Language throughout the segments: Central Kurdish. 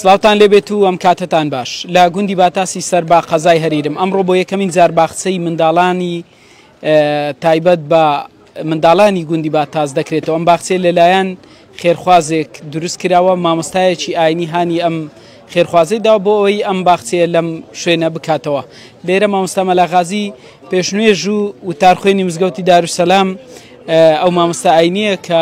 سڵاوتان لێبێت و ئەم کاتەتان باش لە گوندی باتاسی سەر با قەزای هەریرم ئەمڕۆ بۆ یەکەمین جار باخچەی منداڵانی تایبەت بە منداڵانی گوندی باتاس دەکرێتەوە ئەم باخچێ لەلایەن خێرخوازێک دروست کراوە مامۆستایەکی ئاینی هانی ئەم خێرخوازی دا بۆ ئەوی ئەم باخچەیە لەم شوێنە بکاتەوە لێرە مامۆستا مەلاغازی پێشنوێژ و وتارخوێنی مزگەوتی داروسەلام ئەو مامۆستا ئاینیە کە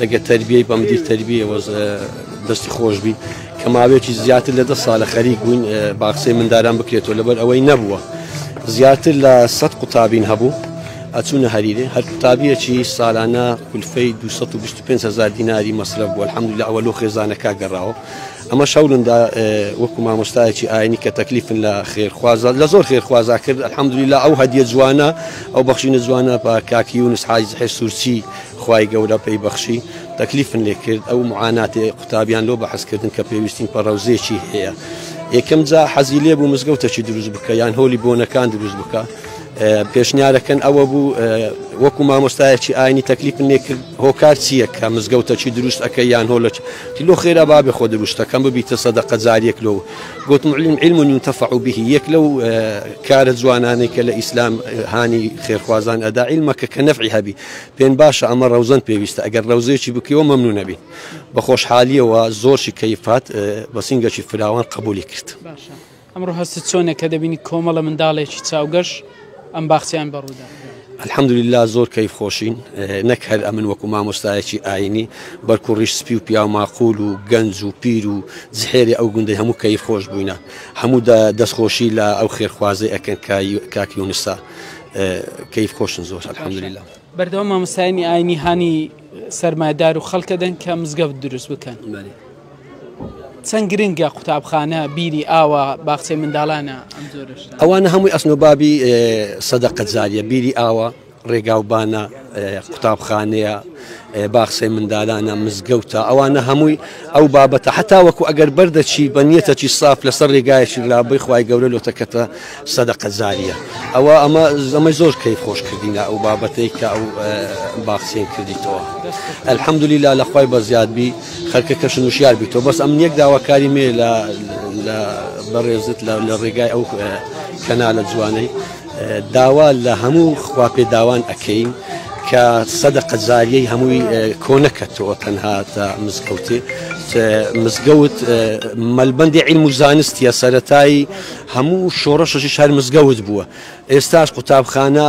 دەگە تربیەی بە مدیر تربیە وەز دەستی خۆش بی کە ماوێکی زیاتر لە دە ساە خەری بووین باخسەی منداران بکرێتەوە لەبەر ئەوەی نەبووە زیاتر لە سە قوتابین هەبوو ئەچوونە هەریرێ هەر قوتابیەکی سالانە کولفەی 2500 دیناری مەصرف بووە حمد لە ئەوە لۆ خێزانەکە گەڕاوە ئەمە شەولندا وەکو مامۆستایەکی ئاینی کە تەکلیفن لە خێرخوازە لە زۆر خێرخوازا کرد الحمدلی لە ئەو هەدیە جوانە ئەو بەخشینە جوانە بە کاکیونس حایز حێ سوورچی خوای گەورە پێی بەخشی تەکلیفن لێ کرد ئەو معاناتی قوتابیان لۆ بەحس کردن کە پێویستین پە ڕەوزێکی هەیە یەکەم جا حەزی لێ بوو مزگەوتەکی دروست بکە یان هۆلی بۆنەکان دروست بکە پێشنیارەکەن ئەوە بوو وەکو مامۆستایەکی ئاینی تەکلیفن لێ کرد هۆکار چییە کە مزگەوتەکی دروست ئەەکە یان هۆلەک لۆ خێرا بابێ خۆ دروستەکەم ببیتە سەدە قەزاریەک لۆ گوتم علم علم و نیونتەفع و بهی یەک لەو کارە جوانانەی کە لە ئیسلام هاانی خێرخوازان ئەدا علمەکە کە نەفعی هەبی پێن باشە ئەمە ڕەوزەن پێویستە ئەگەر ڕەوزێکی بکەوە مەمنون نەبی بە خۆشحالیەوە زۆرشی کەیفات بە سنگەشی فراوان قبولی کرد ئەمڕۆ هەست چۆنە کە دەبینی کۆمەڵە منداڵێکی چاوگەش ئەم باخچیان بەڕوودا الحەمدللا زۆر کەی خۆشین نەک هەر ئەمن وەکو مامۆستایەکی ئاینی بەرکو ڕیش سپی و پیاو ماقول و گەنج و پیر و زحێری ئەو گوندی هەموو کەی خۆش بووینە هەموو دەستخۆشی لە ئەو خێرخوازی ئەکەن کاکیونسا کەیف خۆشن زۆر الحمدلله. بەردەوام مامۆستایانی ئاینی هانی سەرمایدار و خەڵکە دەن کە مزگەوت دروست بکەن چەند گرنگە قوتابخانە بیری ئاوا باخچەی منداڵانە ئەوانە هەمووی ئەسنۆبابی سەدەقەت زاریە بیری ئاوا ڕێگاوبانە قوتابخانەیە، باخچەی مندالانە، مزگەوتە، ئەوانە هەمووی ئەو بابەتە هەتاوەکو ئەگەر بەردەچی بە نیەتەکی ساف لەسەر ڕێگایەکی لابەی خوای گەورە لۆ تەکەتە سەدەقە جاریە ئەوە ئەمە ئەمە زۆر کەیف خۆش کردینە ئەو بابەتەی کە ئەو باخچەی کردیتەوە الحمدللە لە خوای بەزیاد بی خەرکە کەش نوشیار بیتەوە بەس ئەم یەک داواکاری مێ لە بەڕێزت لە ڕێگای ئەو کەنالە جوانەی داوا لە هەموو خواپێداوان ئەکەین کە سەدەقە جاریەی هەمووی کۆنەکەتەوە تەنها تا مزگەوتێ مزگەوت مەلبندی علم و زانستیە سەتایی هەموو شۆڕەشەشی شار مزگەوت بووە ئێستاش قوتابخانە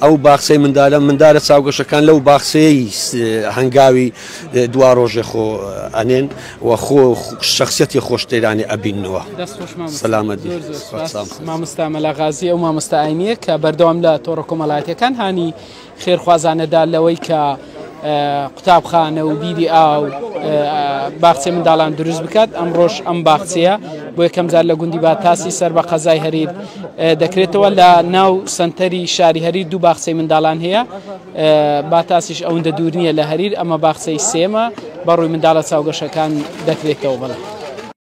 ئەو باخسەی مندالە مندارە چاوگەشەکان لەو باخسەیە هەنگاوی دوا ڕۆژێ خۆ ئەنێن و خۆ شخصیەتی خۆش تێدانێ ئەبینەوە سەلامەت مامستا مەلاغازی ئەو مامستا ئاینیە کە بەردەوام لە تۆڕە کۆمەڵاتەکان هانی خێرخوازانەدا لەوەی کە قوتابخانە و بیری ئاو باخچێ منداڵان دروست بکات ئەم ڕۆژ ئەم باخچەیە بۆ یەکەم جار لە گوندی باتاسی سەر بە قەزای هەریر دەکرێتەوە لە ناو سنتەری شاری هەری دوو باخچەی منداڵان هەیە باتاسیش ئەوندە دوور نییە لە هەریر، ئەمە باخچەی سێمە، بەڕووی منداڵە چاوگەشەکان دەکرێتەوە.